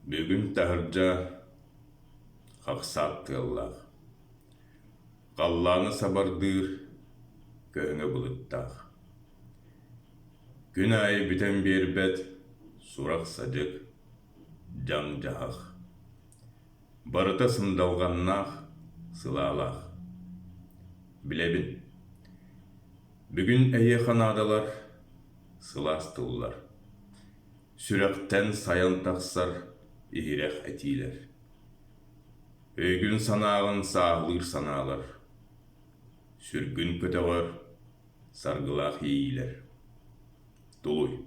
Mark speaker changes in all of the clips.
Speaker 1: Бүгүн таһырдьа хахсаат тыаллаах, халлааны сабардыыр көһөҥө былыттаах. Күн аайы бүтэн биэрбэт сурах-садьык, дьаҥ-дьаһах. Барыта сындалҕаннаах, сылаалаах. Билэбин, бүгүн эһиэхэ наадалар сылаастыыллар, сүрэхтэн сайан тахсар иһирэх этиилэр, өйгүн-санааҕын сааһылыыр санаалар, сүргүн көтөҕөр саргылаах иэйиилэр. Тулуй.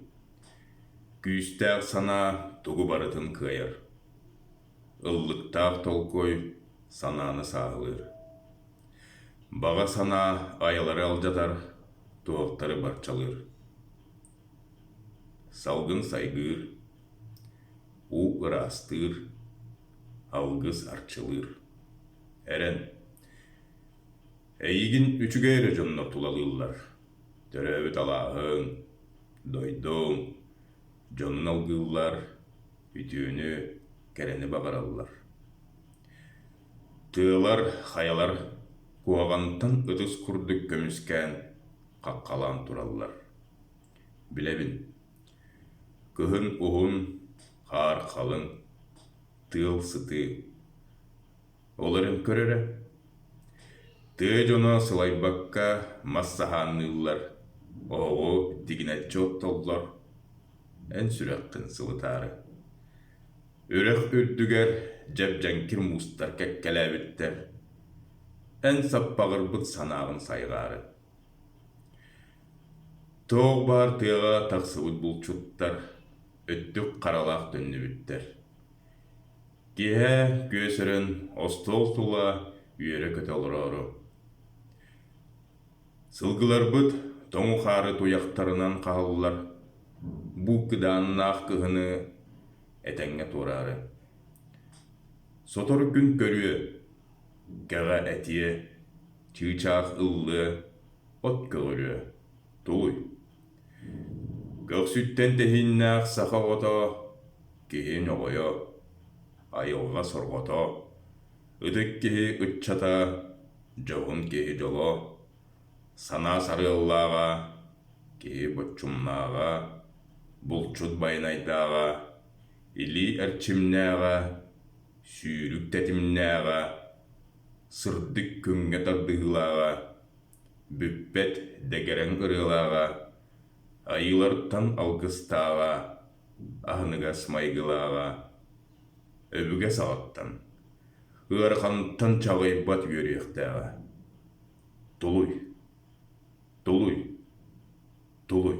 Speaker 1: Күүстээх санаа тугу барытын кыайар. Ыллыктаах толкуй санааны сааһылыыр. Баҕа санаа айалары алдьатар, туһахтары барчалыыр. Салгын сайгыыр, уу ыраастыыр, алгыс арчылыыр. Эрэн Эйигин үчүгэй эрэ дьоннор тулалыыллар. Төрөөбүт алааһыҥ, дойдуҥ дьонун алгыыллар Үтүөнү, кэрэни бабараллар. Тыалар, хайалар куһаҕантан ытыс курдук көмүскээн хаххалаан тураллар. Билэбин, кыһын уһун, хаар халыҥ, тыал сытыы. Олор эн көр эрэ, тыа дьоно сылайбакка мас саһаанныыллар, оһоҕу тигинэччи оттоллор, Эн сүрэххин сылытаары Үрэх үрдүгэр дьэбдьэҥкир муустар кэккэлээбиттэр Эн саппаҕырбыт санааҕын сайҕаары Тоох баар тыаҕа тахсыбыт булчуттар Өттүк харалаах төннүбүттэр Киэһэ күөс өрөн остуол сула Үөрэ-көтө олороору Сылгыларбыт тоҥу хаары туйахтарынан хаһаллар, бу кыдааннаах кыһыны этэҥҥэ туораары. Сотор күн көрүө, кэҕэ этиэ, чыычаах ыллыа, от көҕүлүө, тугуй? Көхсүттэн тэһииннээх саха оҕото, киһи ньоҕойо, айылҕа сорҕото, Ытык киһи ыччата, дьоһун киһи дьоло, санаа сарыаллааҕа, киһи боччумнааҕа, булчут байанайдааҕа, илии эрчимнээҕэ, сүүрүк тэтимнээҕэ, сырдык күҥҥэ тардыһыылааҕа, бүппэт дэгэрэҥ ырыалааҕа, айыылартан алгыстааҕа, аһыныгас майгылааҕа өбүгэ саҕаттан, ыараханыттан чаҕыйбат үөрүйэхтээҕэ. Тулуй, тулуй, тулуй